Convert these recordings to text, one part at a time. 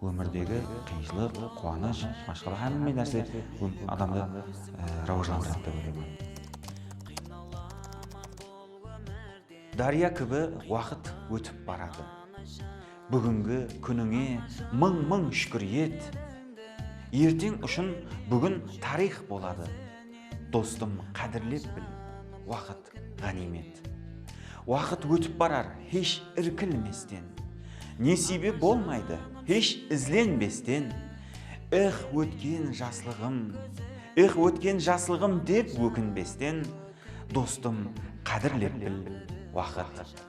Ómirdegi qıyınshılıq, quwanısh, mashqala hámme nárse adamdı rawajlandıradi dep oylayman. Dárya kibi waqıt ótip baradı. Búgingi kúnińe mıń-mıń shúkir et. Erteń ushın búgin tariyx boladı. Dostım, qádirlep bil, waqıt. ǵániymet. Waqıt ótip barar hesh irkilmesten, Nesiybe bolmaydı hesh izlenbesten. Ex, ótken jaslıǵım, ex, ótken jaslıǵım dep ókinbesten, Dostım, qádirlep bil waqıt.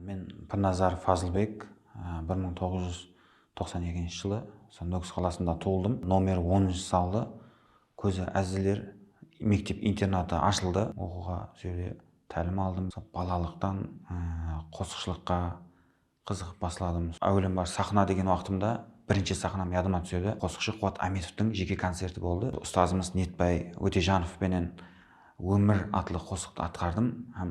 Men Pirnazarov Fazılbek, bir mıń toǵız júz toqsan ekinshi jılı usı Nókis qalasında tuwıldım. Nomer onınshı zaldı Kózi ázizler mektep-internatı ashıldı. Oqıwǵa usı jerde tálim aldım. Balalıqtan qosıqshılıqqa qızıǵıp basladım. Áwelem bar saxna degen waqtımda birinshi saxnam yadıma túsedi. Qosıqshı Quwat Ámetovtıń jeke koncerti boldı. Ustazımız Netbay Ótejanov penen Ómir atlı qosıqtı atqardım hám.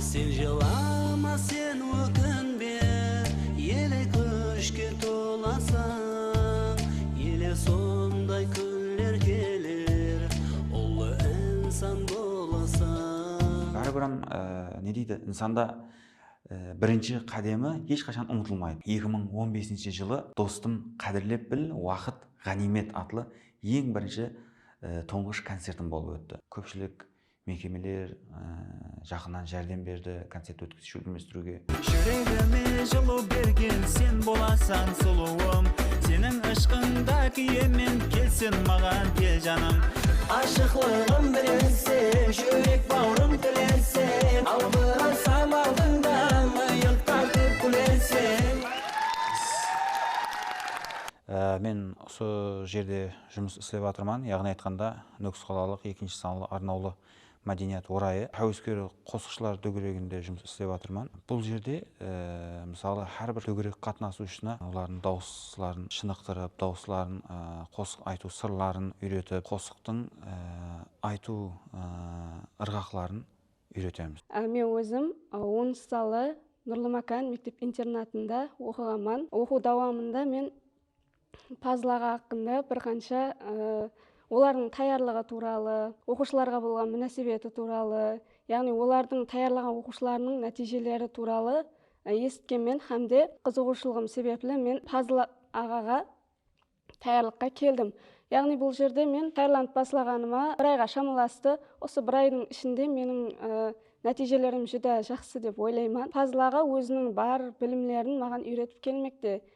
Sen jılama sen ókinbe ele kúshke tolasań ele sonday kúnler keler ullı insan bolasań. Báribiram ne deydi insanda birinshi qádemi hesh qashan umıtılmaydı. Eki mıń on besinshi jılı dostım qádirlep bil waqıt ǵániymet atlı eń birinshi tuńǵısh koncertim bolıp ótti. Kópshilik Mekemeler jaqınan járdem berdi koncert ótkizishti úlmestiriwge. Júregime jılı bergen sen bolasań sulıwım Seniń ıshqıńda kúyemen kelsin maǵan kel janım. Ashıqlıǵım bilinsin júrek bawrım tilensin Albırasam aldıńda mıyıq tartıp kúlensin. Men usı jerde. Jumıs islep atırman, yaǵnıy aytqanda, Nókis qalalıq ekinshi sanlı arnawlı mádeniyat orayı háwesker qosıqshılar dógereginde jumıs islep atırman. Bul jerde, mısalı, hár bir dógerek qatnasıwshını olardıń dawısların shınıqtırıp, dawısların, qosıq aytıw sırların úyretip, qosıqtıń aytıw ırǵaqların úyretemiz. Men ózim onıncı sanlı Nurlımákan mektep-internatında oqıǵanman. Oqıw dawamında men Pazıl aǵa haqqında bir qansha olardıń tayarlıǵı tuwralı, oqıwshılarǵa bolǵan múnásibeti tuwralı, yaǵnıy olardıń tayarlaǵan oqıwshılarınıń nátiyjeleri tuwralı esitkenmen hám de qızıǵıwshılıǵım sebepli men Pazıl aǵaǵa tayarlıqqa keldim. Yaǵnıy bul jerde men tayarlanıp baslaǵanıma bir ayǵa shamalastı. Usı bir aydıń ishinde meniń nátiyjelerim júdá jaqsı dep oylayman. Pazıl aǵa óziniń bar bilimlerin maǵan úyretip kelmekte.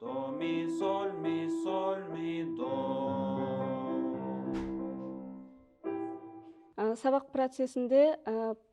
Do mi sol mi sol mi do. Sabaq procesinde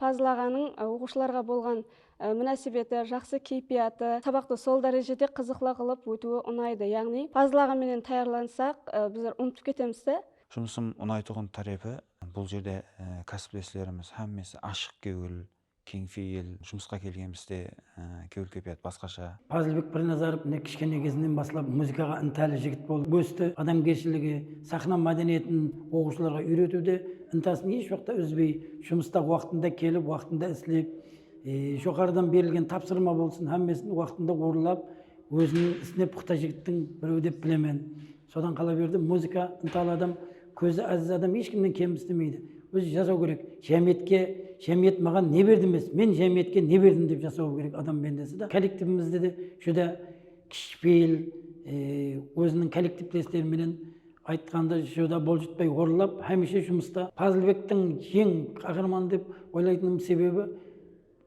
pazlaǵanıń oqıwshılarǵa bolǵan múnásibeti, jaqsı keypiyatı, sabaqtı sol dárejede qızıqlı qılıp ótiwi unaydı. Yaǵnıy pazlaǵan menen tayarlansaq bizler umıtıp ketemiz de. Jumısım unaytuǵın tárepi bul jerde kásipleslerimiz hámmesi ashıq kewil, Keńpeyil, jumısqa kelgenbizde kewil keypiyat basqasha. Pazilbek Pirnazarov mine kishkene kezinden baslap muzıkaǵa intali jigit bolıp ósti, adamgershiligi, saxna mádeniyetin oqıwshılarǵa úyretiwde intasın esh waqta úzbey, jumısta waqtında kelip, waqtında islep, joqarıdan berilgen tapsırma bolsın, hámmesin waqtında orınlap, ózinin isine puqta jigittiń birewi dep bilemen. Sodan qalaberdi muzıka ıntalı adam kózi aziz adam hesh kimnen kem istemeydi ózi jasaw kerek jámiyetke jámiyet maǵan ne berdi emes men jámiyetke ne berdim dep jasawı kerek adam bendesi da kollektivimizde de júdá kishipeyil óziniń kollektivtesteri menen aytqanda júdá boljitpay orınlap hámiyshe jumısta Pazılbektiń eń qaxarmanı dep oylaytınım sebebi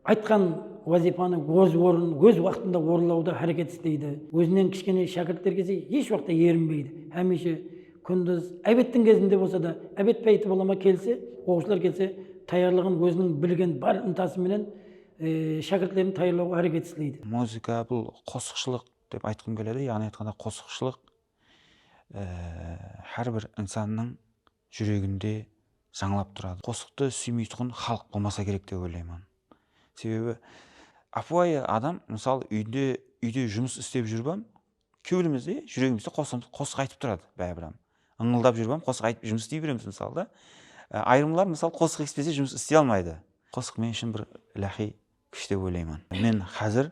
Aytqan wazıypanı wóz worın, wóz waqtında worınlawda háreket isleydi, wózinen kishkene shákirtlergese hesh waqta yerinbeydi, hámiyshe, kúndiz, ábettiń gezinde bolsa da, ábet páyti bolama kelse, woqıwshılar kelse tayarlıǵın wóziniń bilgen bar intası menen shákirtlerin tayarlawǵa háreket isleydi. Muzıka, bul qosıqshılıq dep aytqım keledi, yaǵnıy aytqanda qosıqshılıq hár bir insannıń Júreginde jańlap turadı. Qosıqtı súymeytuǵın xalıq bolmasa kerek dep oylayman. Sebebi ápiwayı adam mısalı úyde úyde jumıs istep júrip ham kewlimizde júregimizde qosıǵımız qosıq aytıp turadı báribir ham. Ińıldap júrip ham qosıq aytıp jumıs istey beremiz mısalı da. Ayırımlar mısalı qosıq esitpese jumıs istey almaydı. Qosıq men ushın bir ilahiy kúsh dep oylayman. Men xázir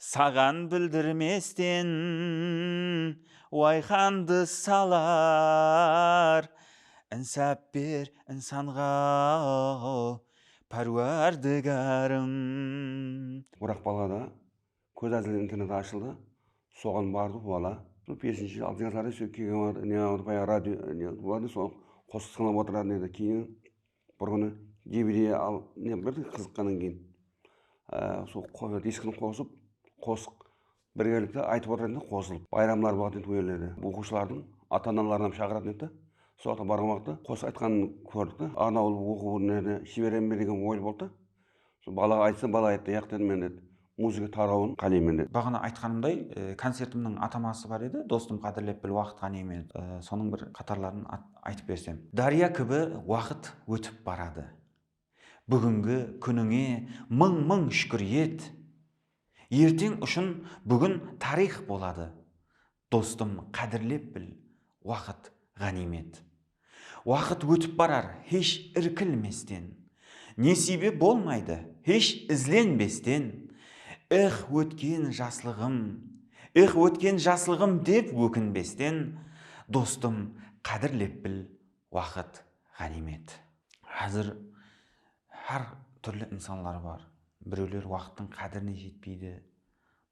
Saǵan bildirmesten wayqandı salar, Insap ber insanǵa, Párwardigarım. Oraq balada kóz ázili internet ashıldı, soǵan bardı wala. Sol peshinshi jılı altıya karayı sol kelgen waqtı ne edi bayaǵı radio ne bolatın edi, sonı qosıq tıńlap otıratın edi. Keyin Bir kúni Jibidiy al ne bir qızıqqannan keyin sol diskini qosıp qosıq birgelikte aytıp otırayın dep qosılıp bayramlar bolatuǵın edi ol jerlerde oqıwshılardıń ata analarıń ham shaǵıratın edi da sol jaqqa barǵan uaqıtta qosıq aytqanın kórdik ta arnawlı oqıw nerede jiberem be degen oy boldı da Sol balaǵa aytsam, bala ayttı, yaq dedi, men dedi, muzıka tarawın qáleymen dedi. Baǵana aytqanımday, koncertimniń ataması bar edi, dostım qádirlep bil waqıt qáne men sonıń bir qatarların aytıp bersem. Dárya kibi waqıt ótip baradı. Búgingi kúnińe mıń-mıń shúkir et! Erteń ushın búgin tariyx boladı. Dostım qádirlep bil, waqıt ǵániymet. Waqıt ótip barar hesh irkilmesten. Nesiybe bolmaydı hesh izlenbesten. Ex ótken jaslıǵım, ex ótken jaslıǵım dep ókinbesten. Dostım qádirlep bil, waqıt ǵániymet. Házir Hár túrli insanlar bar. Birewler waqıttıń qádirine jetpeydi,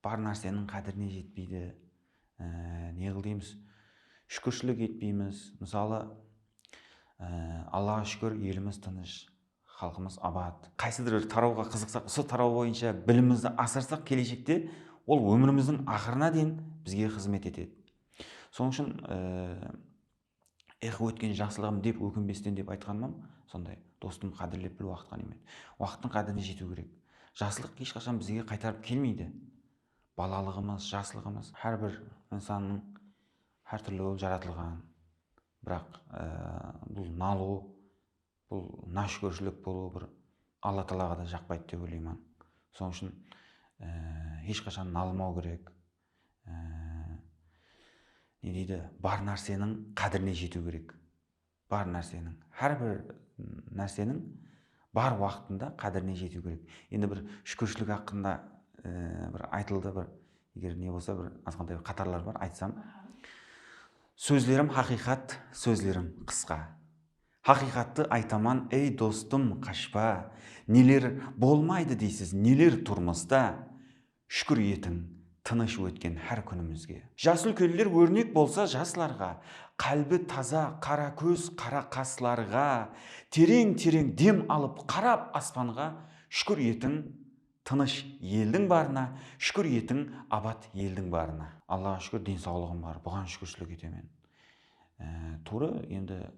bar nárseniń qádirine jetpeydi. Ne qıl deymiz? Shúkirshilik etpeymiz. Mısalı, Allaǵa shúkir, elimiz tınısh, xalqımız abat. Qaysıdır bir tarawǵa qızıqsaq, usı taraw boyınsha bilimimizdi asırsaq, keleshekte ol ómirimizdiń aqırına deyin bizge xızmet etedi. Sonıń ushın, Ex ótken jaqsılıǵım dep ókinbesten dep aytqanımam sonday dostım qádirlep bil waqıt ǵanimet waqıttıń qádirine jetiw kerek jaslıq hesh qashan bizge qaytarıp kelmeydi balalıǵımız jaslıǵımız hár bir insannıń hár túrli bolıp jaratılǵan biraq bul nalıw Bul náshukirshilek bolıwı bir Alla taalaǵa da jaqpaydı dep oylayman. Sonıń ushın hesh qashan nalımau kerek. Ne deydi, bar nárseniń qádirine jetiu kerek. Bar nárseniń, hár bir nárseniń bar waqtında qádirine jetiu kerek. Endi bir shúkirshilik haqqında bir aytıldı bir eger ne bolsa bir azǵantay bir qatarlar bar aytsam. Sózlerim haqıyqat, sózlerim qısqa. Haqıyqattı aytaman ey dostım qashpa neler bolmaydı deysiz neler turmısta shúkir etiń tınısh ótken hár kúnimizge. Jas úlkenler órnek bolsa jaslarǵa qálbi taza qara kóz qara qaslarǵa tereń tereń dem alıp qarap aspanǵa shúkir etiń Tınısh eldiń barına, Shúkir etiń abat eldiń barına. Allaǵa shúkir densawlıǵım bar, buǵan shúkirshilik etemen. Tuwrı, endi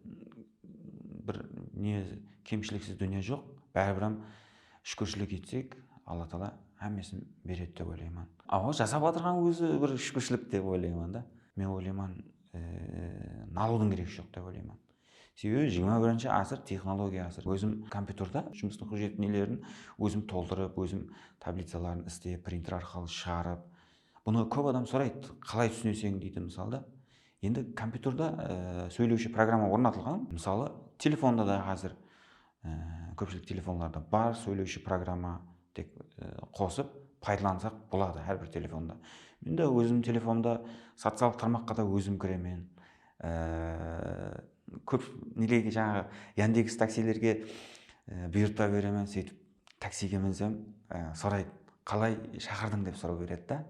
bir ne kemshiliksiz dúnya joq, báribiram shúkirshilik etsek, Alla taala hámmesin beredi dep oylayman. Awa, jasap atırǵan ózi bir shúkirshilik dep oylayman da. Men oylayman, nalıwdıń keregi joq dep oylayman. Sebebi jigirma birinshi asır texnologiya asırı. Ózim kompyuterda jumıstın xujet nelerin ózim toldırıp, ózim tablicaların islep, printer arqalı shıǵarıp. Bunı kóp adam soraydı, qalay túsineseń deydi mısalı da. Endi kompyuterda sóylewshi programma ornatılǵan. Mısalı telefonda da xázir Kópshilik telefonlarda bar sóylewshi programma tek qosıp paydalansak boladı hár bir telefonda men de ózim telefonda sociallıq tarmaqqa da ózim kiremen kóp nelege jańaǵı yandeks taksilerge buyırtpa beremen sóytip taksige minsem soraydı qalay shaqırdıń dep soraw beredi da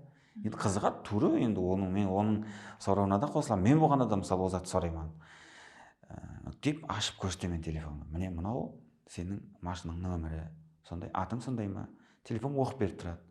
Endi qızıǵadı tuwrı endi onıń men onıń sorawına da qosılamın men bolǵanda da mısalı ol zattı sorayman dep ashıp kórsetedi men telefonımdı mine mınau seniń mashinańnıń nomeri sonday atıń sonday ma telefon oqıp berip turadı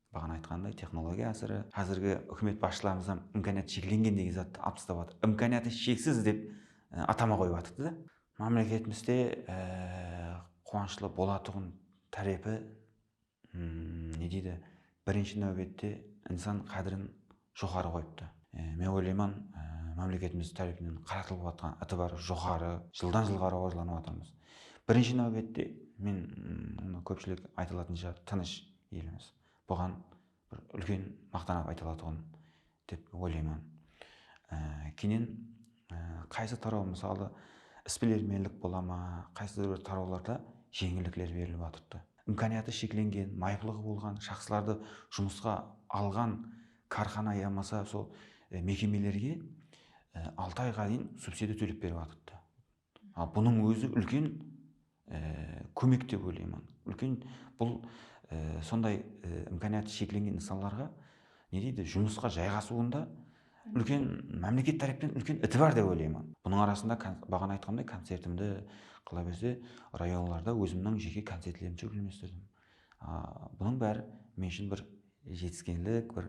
Baǵana aytqanımday, texnologiya ásiri, házirgi húkimet basshılarımız hám imkaniyat sheklengen degen zattı alp tastap atır. Imkaniyatı sheksiz dep atama qoyıp atırdı da. Mámleketimizde quwanıshlı bolatuǵın tárepi ne deydi, birinshi náwbette insan qádirin, joqarı qoyıptı. Men oylayman, mámleketimiz tárepinen qaratılıp atırǵan itibar joqarı, jıldan jılǵa rawajlanıp atırmız. Birinshi náwbette, men bunı kópshilik ayta alatınsha tınısh elimiz. Buǵan bir úlken maqtanıp ayta alatuǵın dep oylayman. Keyinen qaysı taraw mısalı, isbilermenlik bola ma, qaysıda bir tarawlarda jeńillikler berilip atırdı. Imkaniyatı sheklengen, mayıplıǵı bolǵan shaxslardı jumısqa alǵan kárxana yamasa sol mekemelerge altı ayǵa deyin subsidiya tólep berip atırdı. Al bunıń ózi úlken kómek dep oylayman. Úlken bul sonday imkaniyatı sheklengen nıs'anlarǵa ne deydi, jumısqa jayǵasıwında Úlken mámleket tárepten úlken itibar dep oylayman. Bunıń arasında baǵana aytqanımday koncertimdi qala berse rayonlarda ózimniń jeke koncertlerimdi shólkemlestirdim. Bunıń bári men ushın bir jetiskenlik, bir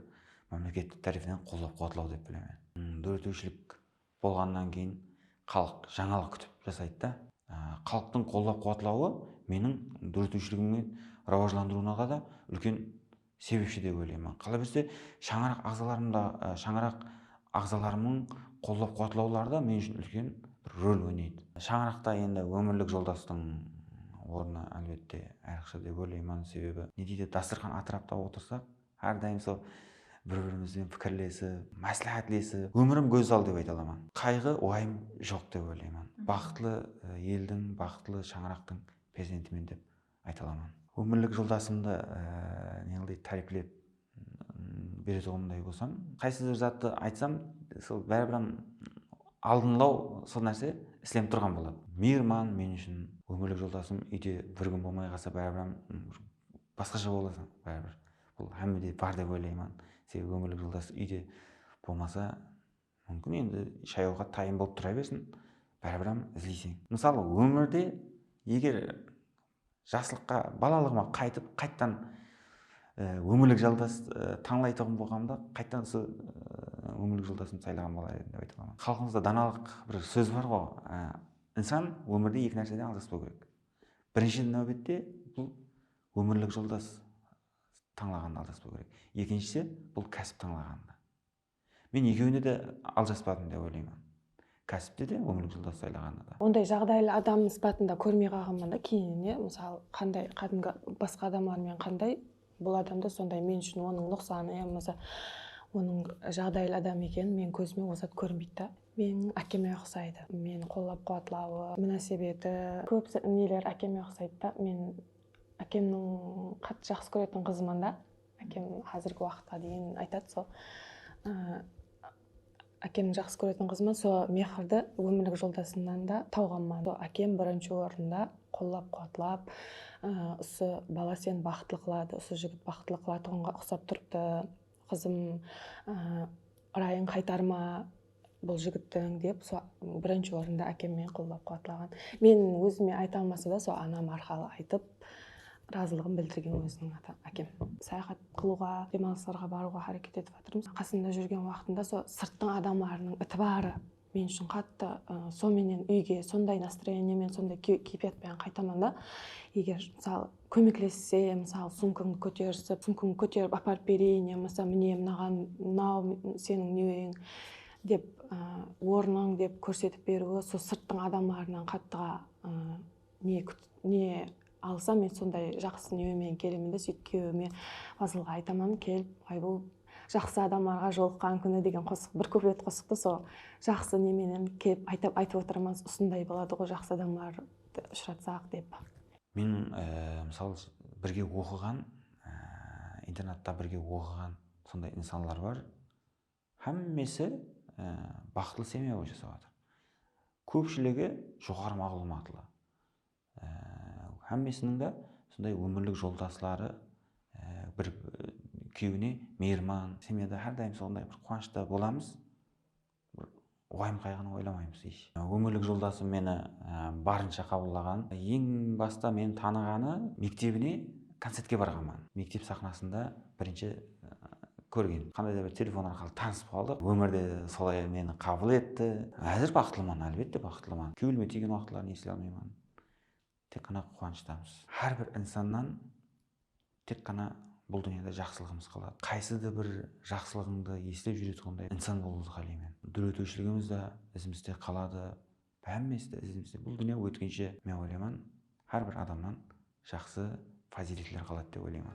mámleket tárepinen qollap-quwatlaw dep bilemen. Dóretiwshilik bolǵannan keyin xalıq jańalıq kútip jasaydı da. Xalıqtıń qollap-quwatlawı meniń dóretiwshiligimniń rawajlandırıwınaǵa da úlken Sebepshi dep oylayman. Qalaberse, shańaraq aǵzalarım da, shańaraq aǵzalarımnıń qollap-quwatlawları da men ushın úlken bir rol oynaydı. Shańaraqta endi ómirlik joldastıń ornı, álbette, ayrıqsha dep oylayman. Sebebi, ne deydi, dasturxan atırapta otırsaq, hár dayım sol bir-birimizben pikirlesip, másláhátlesip, ómirim gózzal dep ayta alaman. Qayǵı, uwayım joq dep oylayman. Baxıtlı eldiń, baxıtlı shańaraqtıń perzentimen dep ayta alaman. Ómirlik joldasımdı neǵıday táriplep beretuǵınımday bolsam, qaysı bir zattı aytsam, sol báribir aldınlaw sol nárse islenip turǵan boladı. Miyirman men ushın ómirlik joldasım úyde bir kún bolmay qalsa báribir basqasha boladı báribir. Bul hámmede bar dep oylayman. Sebebi ómirlik joldas úyde bolmasa. Múmkin endi shayawǵa tayın bolıp tura bersin, báribir-ám izleyseń. Mısalı, ómirde eger jaslıqqa, balalıǵıma qaytıp, qayttan ómirlik jaldas tańlaytuǵın bolǵanımda, qayttan usı ómirlik joldasımdı saylaǵan bolar edim dep ayta alaman. Xalqımızda danalıq bir sóz bar-ǵo, Insan ómirde eki nárseden aljaspau kerek. Birinshi náwbette, bul ómirlik joldas tańlaǵanda aljaspau kerek. Ekinshisi, bul kásip tańlaǵanda. Men ekewine de aljaspadım dep oylayman. Kásipte de, ómlik joldas saylaǵanda da. Onday jaǵdaylı adam sıpatında kórmey qalǵanman da keyinine mısal qanday qádimgi basqa adamlar menen qanday bul adamda sonday men ushın onıń nuqsanı ya bolmasa onıń jaǵdaylı adam ekenin meniń kózime ol zat kórínbeydi da. Meniń ákeme uqsaydı. Meni qollap quwatlawı, múnásebeti kóp neler ákeme uqsaydı da. Men ákemniń qattı jaqsı kóretin qızıman da. Ákem házirgi waqıtqa deyin aytadı sol ákemniń jaqsı kóretin qızıman sol mehirdi ómirlik joldasımnan da tawǵanman sol ákem birinshi orında qollap quwatlap usı bala seni baxıtlı qıladı usı jigit baxıtlı qılatuǵınǵa uqsap turıptı qızım ırayıń qaytarma Bul jigittiń dep so birinshi orında ákemmen qollap quwatlaǵan. Men ózime ayta almasa da so anam arqalı aytıp razılıǵın bildirgen óziniń ata ákem. Sayaxat qılıwǵa, demalıslarǵa barıwǵa háreket etip atırmız. Qasında júrgen waqtında so sırttıń adamlarınıń itibarı men ushın qattı so menen úyge sonday nastroyeniyamen sonday keypiyat penen qaytaman da eger mısalı Kómeklesse, mısalı, sumkańdı kóterisip, sumkańdı kóterip aparıp bereyin yamasa mine mınaǵan mınau seniń neweriń dep ornıń dep kórsetip beriwi sol sırttıń adamlarınan qattıǵa ne ne alsa men sonday jaqsı newe menen kelemen de sóytip kúyewime fazılǵa aytaman kel aybuw jaqsı adamlarǵa jolıqqan kúni degen qosıq bir kuplet qosıqtı sol jaqsı ne menen kelip aytip otırmız usınday boladıǵo jaqsı adamlar ushıratsaq dep Men mısal birge oqıǵan internatta birge oqıǵan sonday insanlar bar xámmesi baxıtlı semya boy jasap atır kópshiligi joqarı maǵlıwmatlı xámmesiniń da sonday ómirlik joltasları bir kúyewine miyirman semyada xárdayım sonday bir quwanıshta bolamız. Bir wayım-qayǵını oylamaymız ish. Ómirlik joldasım meni barınsha qabıllaǵan. Eń basta meni tanıǵanı mektebine koncertke barǵanman. Mektep saxnasında birinshi kórgen. Qanday da bir telefon arqalı tanısıp qaldıq. Ómir de solay meni qabıl etti. Házir baxıtlıman, álbette baxıtlıman. Kewlime tiygen waqıtların esle almayman. Tek ǵana quwanıshtamız. Hár bir insannan tek ǵana bul dúnyada jaqsılıǵımız qaladı. Qaysı da bir jaqsılıǵıńdı eslep júretuǵınday insan bolıwdı qálayman. Dóretiwshiligimiz de izimizde qaladı, hámmesi de izimizde. Bul dúnya ótkinshe, men oylayman, hár bir adamnan jaqsı fazıyletler qaladı dep oylayman.